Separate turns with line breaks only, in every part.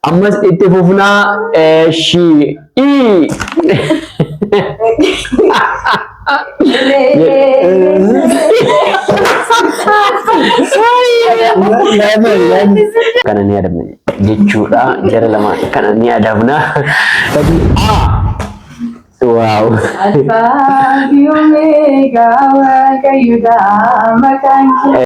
Ammas itti fufnaa eeshii. Kana ni adabna jechuudha. Jara lama kana ni adabna. Sadii A. Waaw. Alfaa
fi Omeegaa Waaqayyoodha maqaan kee.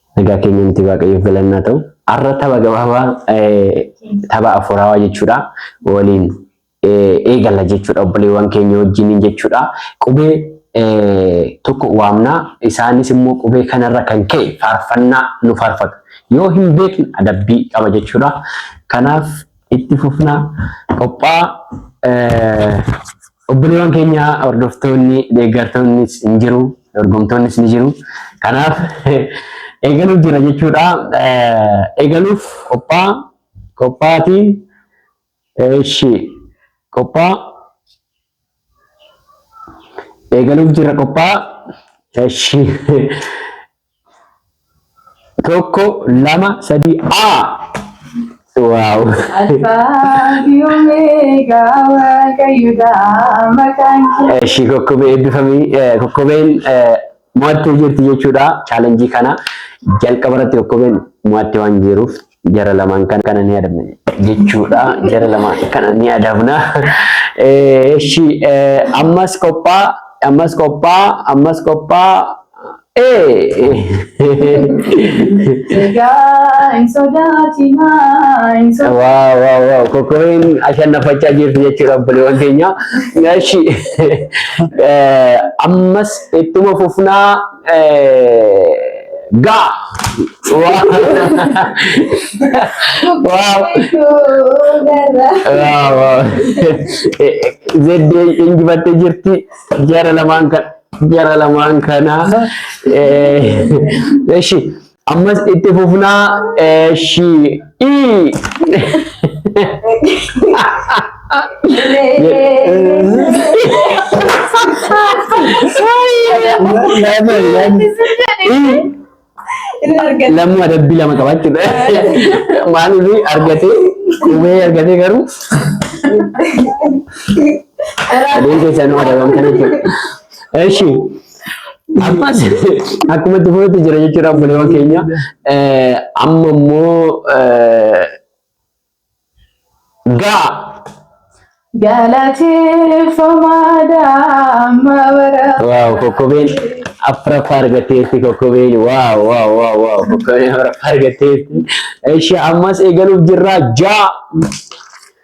Nagaa keenya miti waaqayyoof galannaa ta'u. Har'a tapha gabaabaa tapha afuuraawaa jechuudha. Waliin eegalla jechuudha obboleewwan keenya wajjiniin jechuudha. Qubee tokko waamnaa isaanis immoo qubee kanarra kan ka'e faarfannaa nu faarfatu. Yoo hin beekne adabbii qaba jechuudha. Kanaaf itti fufnaa qophaa Obboleewwan keenya hordoftoonni, deeggartoonnis hin jiru, dorgomtoonnis ni jiru. Kanaaf eegaluuf jira jechuudha. Eegaluuf qophaa qophaatii eeshi qophaa eegaluuf jira qophaa eeshi Tokko, lama, sadii, A! Waaw! Alfaa fi Omeegaa Waaqayyoodha maqaan kee. Ishii kokkobee
eebbifamii eh, kokkobeen eh, mo'attee jirti jechuudha. Chaalenjii kana jalqaba irratti kokkobeen mo'attee waan jiruuf Jara lamaan kana kana ni adabna jechuudha. Jara lamaan kana ni adabna. Eh, Eshi eh, ammas qophaa ammas qophaa ammas qophaa eh. Egaa hin sodaatinaa hin sodaatinaa. Waaw waaw waaw kokkobeen ashannafachaa jirti jechuudha obboleewwan keenya. Eshi eh, ammas ittuma fufnaa Ga. Zeddee injifattee jirti jara lamaan kan jara lamaan kana. Eshi Ammas itti fufnaa eeshii. Lamuu adabbii lama qaba jechuudha. Maaliif argatee qubee argatee garuu adeemsa isaanii adabamtan jechuudha. Eeshii. Ammas akkuma itti fufetti jira jechuudha obboleewwan keenya. Eh, Amma immoo eh, gaa
Galateeffamaa daa'ima bara. waaw kokkobeen
afraffaa argatteetti kokkobeen waaw waaw waaw waaw kokkobeen afraffaa argatteetti. Eshi ammas eegaluuf jirra jaa.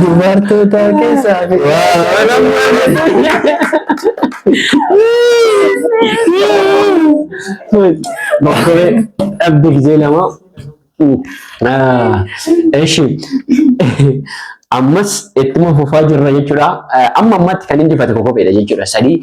Dubartoota keessaa Bokkee dhabde gizee lama. Eshi. Ammas ittuma fufaa jirra jechuudha. Amma ammatti kan injifate kokobeedha jechuudha. Sadii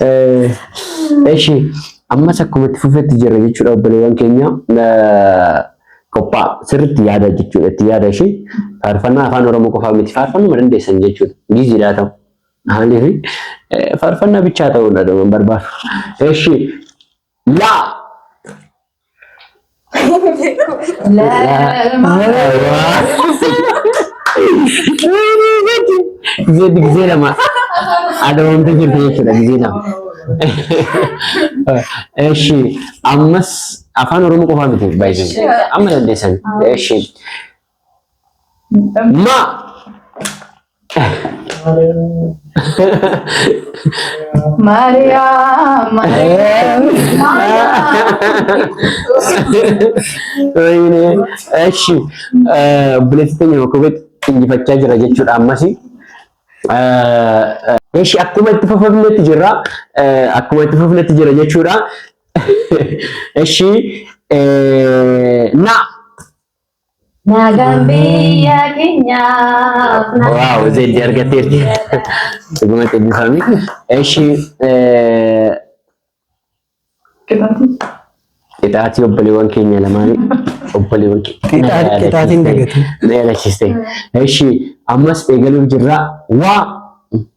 Eh, Eshi ammas akkuma itti fufetti jirra jechuudha obboleewwan keenya Eh, qophaa sirriitti yaada jechuudha itti yaada ishee faarfannaa afaan oromoo qofaa miti faarfannuma dandeessan jechuudha giiziidhaa ta'u maaliif eh, faarfannaa bichaa ta'uudha dhuma barbaadu. Eshi Laa. Gizee gizee lama. Adawamtee jirti jechuudha gizee lama. Eshi ammas afaan oromoo qofaa miti baay'isanii amma dandeessan. Eshi Ma.
Maariyaam. Maariyaam.
Wayne. Eshi. Obboleessi keenya Makubeet injifachaa jira jechuudha ammas. Eshi akkuma itti fufamnetti jirra. Akkuma itti fufamnetti jira jechuudha. Eshi. Na. Nagaan
biyya keenyaaf.
Waaw zeeddi argatteerti. Dhuguma eebbifami. Eshi qixaatii obboleewwan keenya lamaanii obboleewwan Qixaa- qixaatiin
dagate. na yaadachiiste.
Eshi ammas eegaluuf jirra. Waa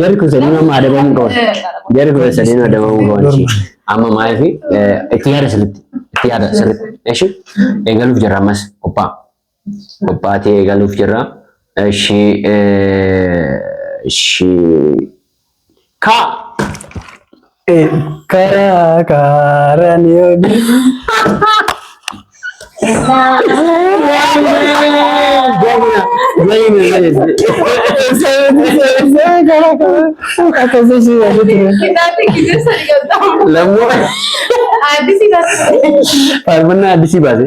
Jarri kun sadiin amma adabamuu qaban. Jarri kun sadiin adabamuu qaban. ishee. Amma maaliif itti yaada sirriitti. Itti yaada sirriitti. Eshi eegaluuf jirra ammas qophaa. Qophaa ta'e eegaluuf jirra. Eshi eshi kaa.
Karaa kaaraan yoo Faarfannaa
addisii baase.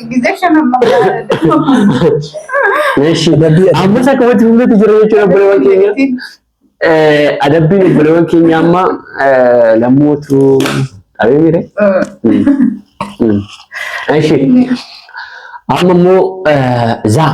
Ammas akka wajjin hundatti jira jechuudha obboleewwan keenya. Adabbiin obboleewwan keenya amma lammuutu dhabee mire. Amma immoo zaa.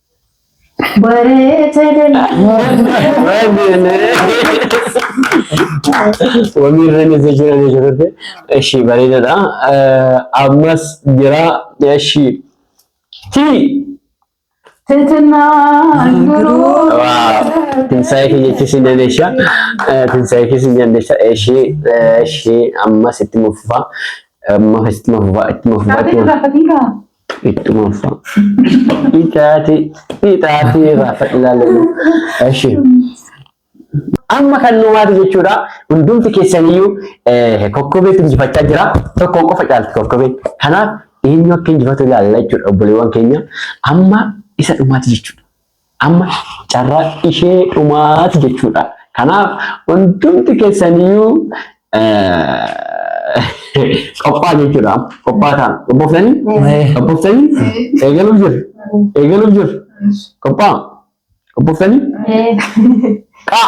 Wamii irra ni jira ni jirte. Eshi bareedadha. Ammas jira. Eshi. Ti.
Tinsaa'ee
keenyatti si dandeesha. Tinsaa'ee keessa si dandeesha. Eshi. Eshi. Ammas itti mufufa. Ammas itti mufufa. Itti mufufa. Ittuma uffaa. Ixaati. Ixaati irraa fadhilaalanii. Eshi. Amma kan nu waati jechuudha. Hundumti keessaniyyuu eh, kokkobeetu injifachaa jira. Tokkoon qofa caalti kokkobeen. Kanaaf eenyu akka injifatu ilaalla jechuudha obboleewwan keenya. Amma isa dhumaati jechuudha. Amma carraa ishee dhumaati jechuudha. Kanaaf hundumti keessaniyyuu qophaa jechuudha. Qophaa ta'an. Qophooftanii? Qophooftanii? Eegaluuf jiru. Eegaluuf jiru. Qophaa? Qophooftanii? Qaa!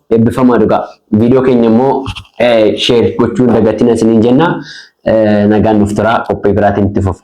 Eebbifamaa dhugaa. Viidiyoo keenya immoo sheer gochuu hin dagatina isiniin jenna. Nagaan nuuf turaa qophii biraatiin itti fufna.